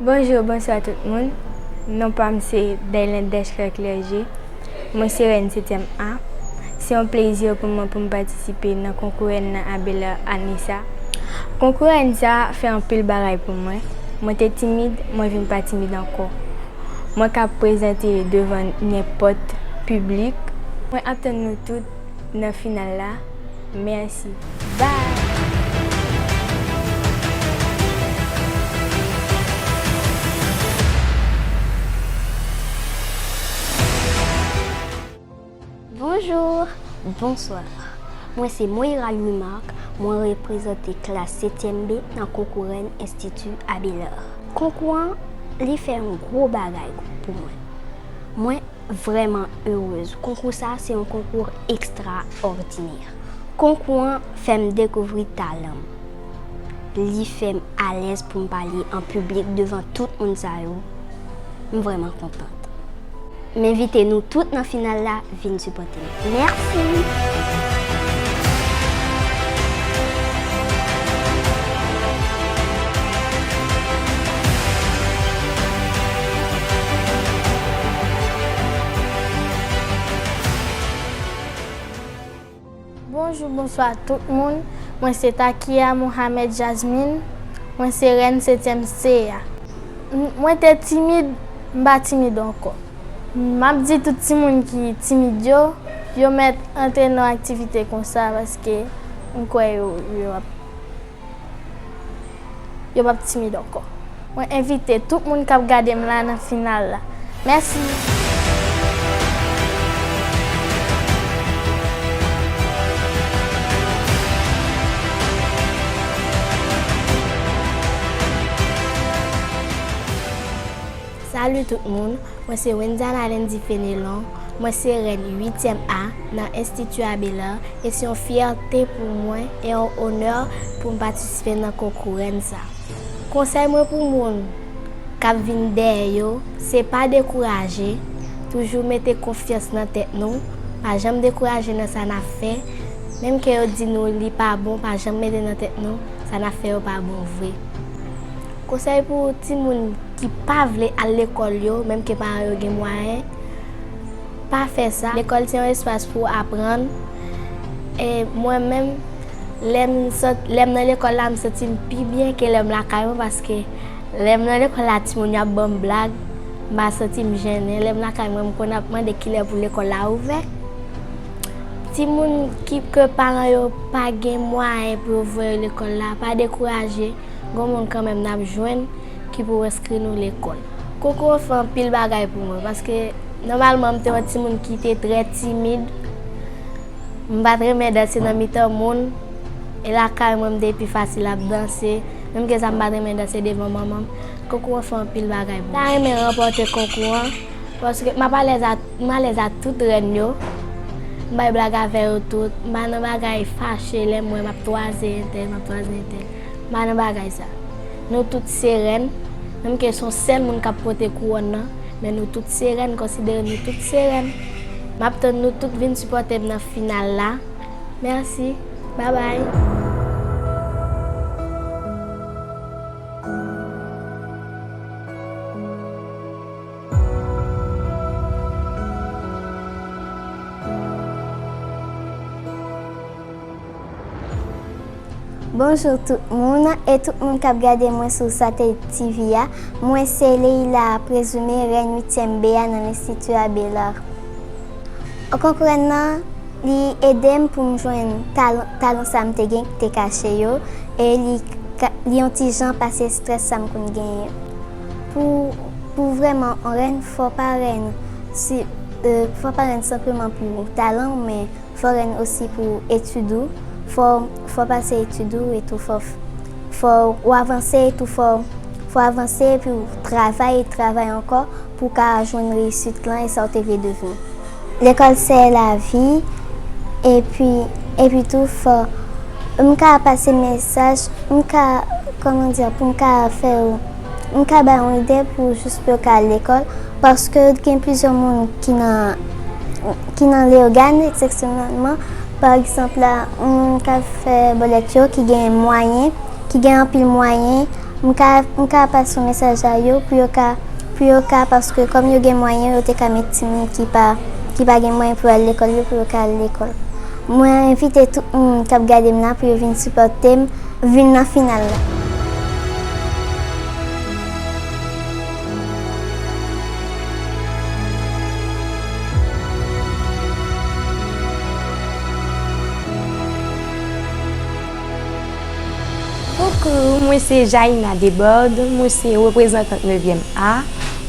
Bonjou bonswa tout moun non pam se Belen Deschler Clergé mwen se rèn setyèm A se yon plezi pou mwen poum patisipe nan konkou rèn nan a Belè ane sa konkou rèn sa fè anpil bagay pou mwen mwen te timid mwen vin pa timid ankò mwen ka prezante devan nenpòt piblik mwen ap tann nou tout nan final la. Merci. Bye. Bonjour Bonsoir Mwen se Moira Louis Marc Mwen reprezante klas 7 èm B nan konkou rèn Institut Abelard. Konkou an li fè yon gwo bagay pou mwen. Mwen. vrèman erez konkou sa se yon konkou ekstra òdinè konkou an fèm dekouvri talan m li fèm alèz poum pale an piblik devan tout moun sa yo m vrèman kontant m envite nou tout nan final la vin sipòte m. Merci. Bonjou bonswa tout moun mwen se takia Mohamed Jasmine mwen se rèn setyèm se a mwen te timid m pa timid ankò. Map di tout timoun ki timid yo, yo mèt antre nan aktivite konsa paske m kwè yo yo pap timid ankò. Mwen envite tout moun kap gade m la nan final la. Mèsi! Salut tout moun, mwen se Wenzana Lendy Fenelon, mwen se rèn 8 tièm A nan Institut Abelard e se yon fyète pou mwen e yon onè pou m patisipe nan konkou rèn sa. Konsèy mwen pou moun kap vin dèyè yo se pa dekouraje, toujou mete konfyans nan tèt nou, pa janm dekouraje nan sa nap fè, menm ke yo di nou li pa bon pa janm mete nan tèt nou sa nap fè yo pa bon vre. Konsèy pou timoun ki pa vle al lekòl yo, menm ke paran yo gen mwayen, Pa fè sa. Lekòl se yon espas pou w aprann. E mwen menm, lè m nan lekòl la, m santi m pi byen ke lè m lakay mwen paske lè m nan lekòl la timoun yo ap ban m blag, m pa santi m jennen. Lè m lakay mwen, m konn ap mande kilè pou lekòl la ouvè. Timoun ke paran yo pa gen mwayen pou yo voye yo lekòl la, pa dekouraje. gon moun kanmenm nap jwenn ki pou enskri nou lekòl. Konkou an fè anpil bagay pou mwen paske nòmalman m te yon timoun ki te trè timid, m pa t renmen danse nan mitan moun, e lakay mwen m te pi fasil ap danse, menm ke sa m pa t renmen danse devan manman m, konkou an fè anpil bagay pou mwen. M ta renmen ranpòte konkou an paske m ap alèz ak, m alèz ak tout rèn yo, m bay blag avè yo tout, m pa nan bagay fache lè m wè m ap twaze entèl, m ap twaze entèl. Ba nou bagay sa. Nou tout se rèn, menm ke son sèl moun kap pote kouwòn nan, men nou tout se rèn, konsidere nou tout se rèn. Map tann nou tout vin sipòtem nan final la. Merci. Bye bye. Bonjour tout moun e tout moun kap gade mwen sou satellite TV a mwen se Leïla a prezime rèn 8 tièm be a nan l'institut Abélard o konprann nan li edem poum jwenn talon sa mte gen kite kache yo e li on ti jan pase strès sa mkonn genyen pou vrèman on rèn fò pa rèn fò pa rèn senpleman pou talanw men Fò ren osi pou etid ou fò fò pase etid ou etou fò fò ou avanse etou fò fò avanse epi ou travay et travay ankò pou ou ka jwenn reyisit lan e sa ou te vle devni. Lekòl se lavi epi epi tou fò m ka pase mesaj m ka kòman di a pou m ka fè ou. M ka bay yon ide pou jous pou yo ka al lekòl, paske gen plizyè moun ki nan, ki nan Leyogàn eksepsyonèlman, pa egzanp la, yon moun k ap fè bòlèt yo ki gen mwayen, ki gen anpil mwayen, m ka, m ka pase yon mesaj a yo pou yo ka, pou yo ka, paske kòm yo gen mwayen yo te ka mete timoun ki pa, ki pa gen mwayen pou yo al lekòl yo pou yo ka al lekòl. Mwen envite tout moun kap gadem la pou yo vin sipòtem vin nan final la. Coucou, mwen se Jaïna Debord, mwen se reprezantant nevyèm A,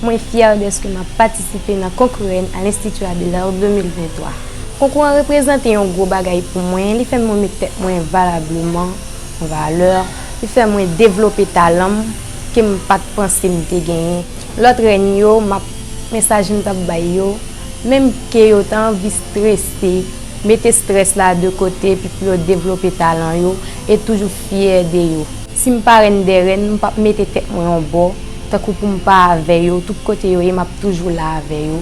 mwen fyè dèske map patisipe nan konkou Reine a l'Institut Abelard 2023. Konkou an reprezante yon gwo bagay pou mwen, li fè mwen met tèt mwen valableman an valè, li fè mwen devlope talan m ke m pa t panse m te genyen. Lòt rèn yo, m ap mesaj m t ap bay yo, menm ke yo ta anvi strese, mete strès la de kote epi pou yo devlope talan yo e toujou fyè de yo. Si m pa rèn dè rèn, m p ap mete tèt mwen yon bò, tankou pou m pa avè yo, tout kote yo ye m ap toujou la avè yo,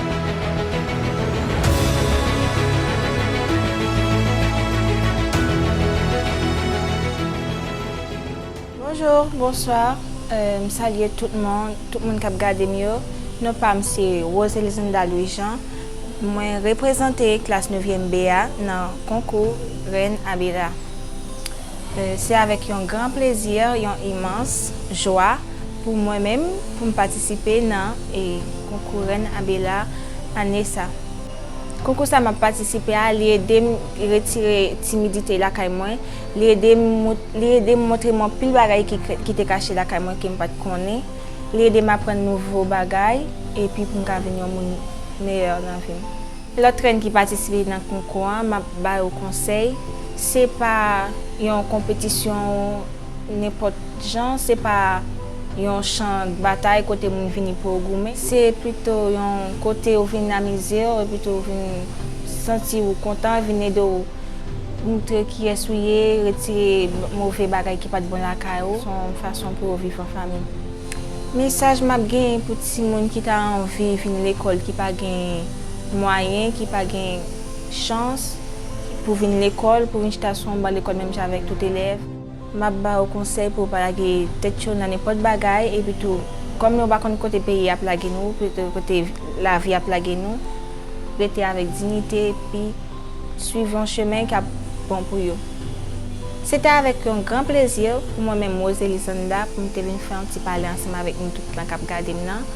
Bonjour, bonsoir, m salye tout moun, tout moun kap gade m yo, non pa m se Rose Elisinda Louis Jean, mwen reprezante klas nevyèm B a nan konkou Reine Abira. Se avèk yon gran plezi, yon imans jwa. Pou mwen menm pou m patisipe nan e konkou rèn abela ane sa. Konkou sa map patisipe a li edem retire timidite lakay mwen, li edem li edem montrem anpil bagay ki te kache lakay mwen kem pat konnen, li edem aprann nouvo bagay epi pou m ka vin yon moun meyè nan vim. Lòt rèn ki patisipe nan konkou an map ba yo konsèy se pa yon konpetisyon. Nenpòt jan, se pa yon chan batay kote moun vini pou yo goumen. Se pito yon kote ou vin amize w epi tou vin santi ou kontan, vin ede w montre kiyès ou ye, retire move bagay ki pa t bon lakay ou. Se yon fason pou yo viv an fanmi. Mesaj m ap genyen pou timoun ki ta anvi vin lekòl ki pa gen mwayen, ki pa gen chans pou vin lekòl, pou vin chita sou yon ban lekòl menm jan avèk tout elèv. Map ba ou konsèy pou ou pa lage tèt cho nan nenpòt bagay epi tou kòm nou pa konn kote peyi ap lage nou pito kote lavi ap lage nou rete avèk dinite epi swiv yon chemen kap bon pou yo. Se te avèk yon gran plezi pou mwen menm Rose Elisanda pou m te vin fè yon ti pale ansanm avèk nou tout lan kap gade m nan.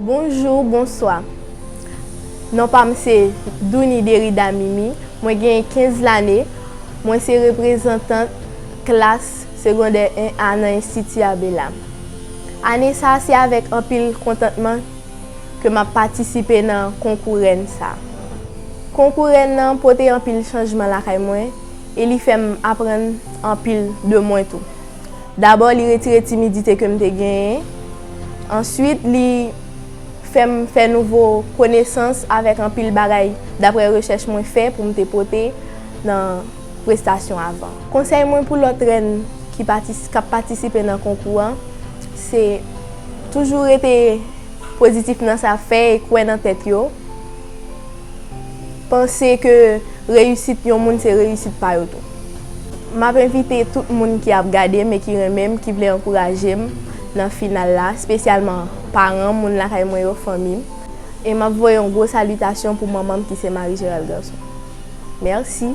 Bonjour bonswa non pam se Douny Derida Mimi mwen genyen 15 lane mwen se reprezantant klas segondè 1 a nan enstiti abela ane sa se avèk anpil kontantman ke map patisipe nan konkou rèn sa konkou rèn nan pote anpil chanjman lakay mwen e li fèm aprann anpil de mwen tou dabò li retire timidite kem te genyen. Answit li fè m fè nouvo konesans avèk anpil bagay daprè rechèch mwen fè pou m te pote nan prestasyon avan. Konsèy mwen pou lòt rèn ki k ap patisipe nan konkou an se toujou rete pozitif nan sa y ap fè e kwè nan tèt yo. panse ke reyisit yon moun se reyisit pa yo tou. M ap envite tout moun ki ap gade m e ki renmen m, ki vle ankouraje m nan final la, spesyalman paran m, moun lakay mwen yo, fanmi m. E m ap voye yon gwo salitasyon pou manman m ki se Marie Gérald Garçon. Mèsi.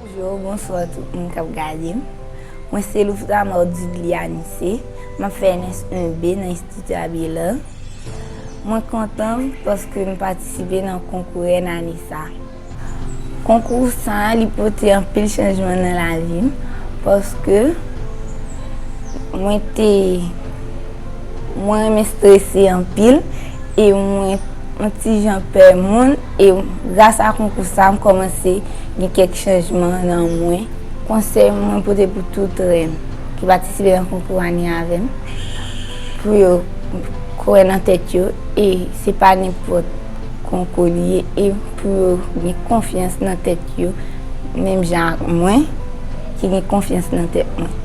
Bonjour, bonsoir tout moun kap gadem. Mwen se Louftamar Dudly Anise, map fè ns 1 B nan Institut Abelard. Mwen kontan paske m patisipe nan konkou rèn ane sa. Konkou sa li pote anpil chanjman nan lavim paske mwen te. Mwen renmen strese anpil e mwen yon ti jan pè moun e gras a konkou sa m kòmanse gen kèk chanjman nan mwen. Konsèy mwen pote pou tout rèn ki patisipe nan konkou ane avè m pou yo kwè nan tèt yo e se pa nenpòt konkou li ye e pou yo gen konfyans nan tèt yo menm jan ak mwen ki gen konfyans nan tèt mwen.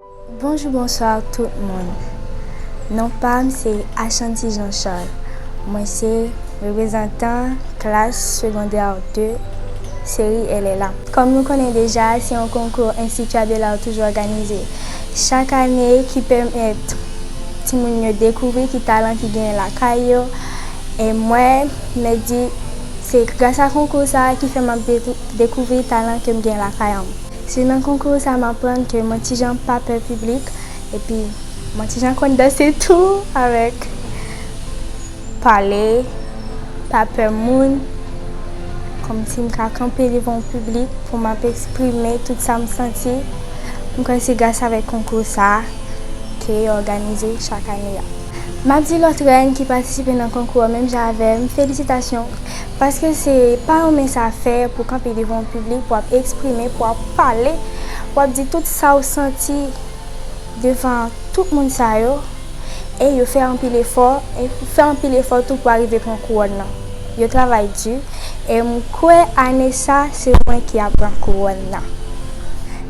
Bonjou bonsoir tout moun non pam se Ashanti Jean Charles mwen se reprezantan klas secondaire 2 seri LLA. Kòm nou konnen deja se yon konkou Institut Abelard toujou òganize chak ane ki pèmèt timoun yo dekouvri ki talan ki genyen lakay yo e mwen mèt di se gras a konkou sa ki fè map dekouvri talan kem gen lakayanm. Se nan konkou sa m aprann ke mwen ti jan pa pè piblik epi mwen ti jan konn danse tou avèk pale, pa pè moun, kòmsi m ka kanpe devan yon piblik pou m ap eksprime tout sa m santi. M kwè se gras avèk konkou sa ke yo òganize chak ane a. M ap di lòt rèn ki patisipe nan konkou an menm jan avè m, felisitasyon! Paske se pa yon mens afè pou kanpe devan yon piblik pou ap eksprime, pou ap pale, pou ap di tout sa ou santi devan tout moun sa yo e yo fè anpil efò, fè anpil efò tou pou arive pran kouwòn nan. Yo travay di e m kwè ane sa se mwen ki ap pran kouwòn nan.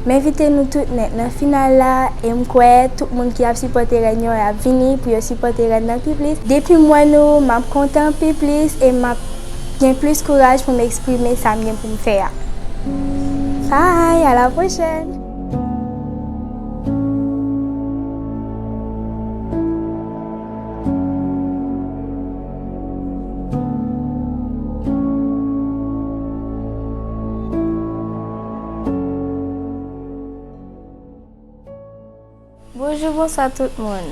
M envite nou tout nèt nan final la e m kwè tout moun ki ap sipòte rèn yo ap vini pou yo sipòte rèn nan pi plis. Depi m wè nou, m ap kontan pi plis e m ap gen plis kouraj pou m eksprime sa m gen pou m fè a. Bye! A la pwochèn! Bonjou bonswa tout moun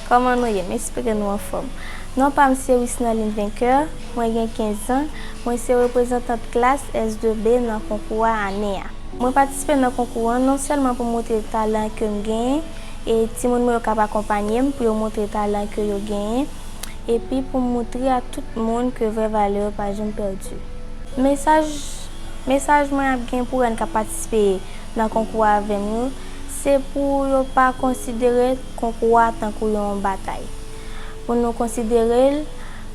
Kòman nou ye? M espere nou anfòm Non pa m se Wisnerline Vainqueur Mwen gen 15 zan Mwen se reprezantant klas S2B nan konkou a ane a Mwen patisipe nan konkou an non sèlman pou m montre talan ke m genyen e timoun mwen yo kab akonpanye m pou yo montre talan ke yo genyen epi pou m moutre a tout moun ke vrè valè yo pa janm pèdi. Mesaj Mesaj mwen ap gen pou rèn kap patisipe nan konkou a avèm yo, se pou yo pa konsidere konkou a tankou yon batay. Pou nou konsidere l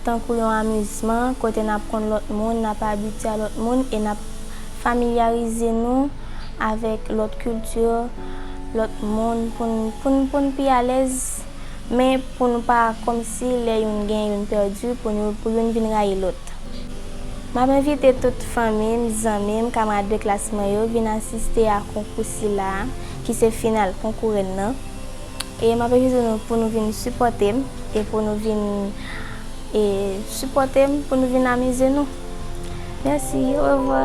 tankou yon amizman kote nap konn lòt moun, nap abitye a lòt moun e nap familyarize nou avèk lòt kilti, lòt moun pou n pou n pou n pi alèz. men pou nou pa kòmsi lè youn gen youn pèdi pou nou pou youn vin rayi lòt. M ap envite tout fanmi m, zanmi m, kamarad de klas mwen yo vin asiste a konkou sila a ki se final konkou rèn nan e m ap envite nou pou nou vin sipòte m e pou nou vin e sipòte m pou nou vin amize nou. Mèsi, orevwa!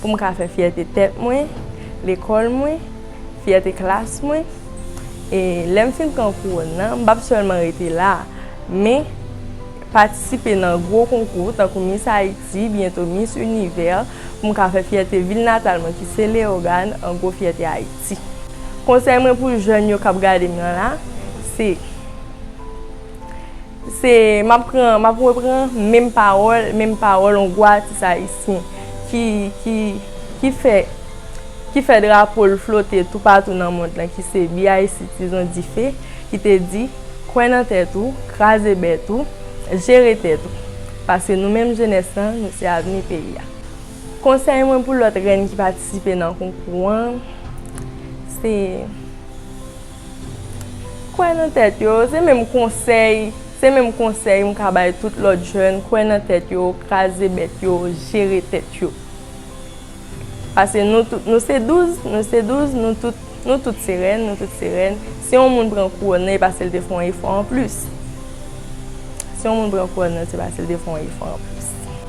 pou m ka fè fyète tèt mwen, lekòl mwen, fyète klas mwen. E lè m fin pran kouwòn nan, m p ap sèlman rete la, men patisipe nan gwo konkou tankou Miss Haïti, byento Miss Univers, pou m ka fè fyète vil natal mwen ki se Leyogàn, an gwo fyète Ayiti. Konsèy mwen pou jèn yo k ap gade m nan la, se. Se m ap pran, m ap repran menm pawòl, menm pawòl yon gwo atis ayisyen ki fè, ki fè drapo l flote toupatou nan mond lan ki se BIC Tizon Dife ki te di, Kwè nan tèt ou, kraze bèt ou, jere tèt ou. Paske nou menm jenès lan, nou se avni peyi a. Konsèy mwen pou lòt rèn ki patisipe nan konkou an, se. Kwè nan tèt yo, se menm konsèy, se menm konsèy m ka bay tout lòt jèn, kwè nan tèt yo, kraze bèt yo, jere tèt yo. Pase nou tout, nou se 12, nou se 12, nou tout, nou tout se rèn, nou tout se rèn. Si yon moun pran kouwòn nan e pase l te fè yon efò anplis. Si yon moun pran kouwòn nan se pase l te fè yon efò anplis.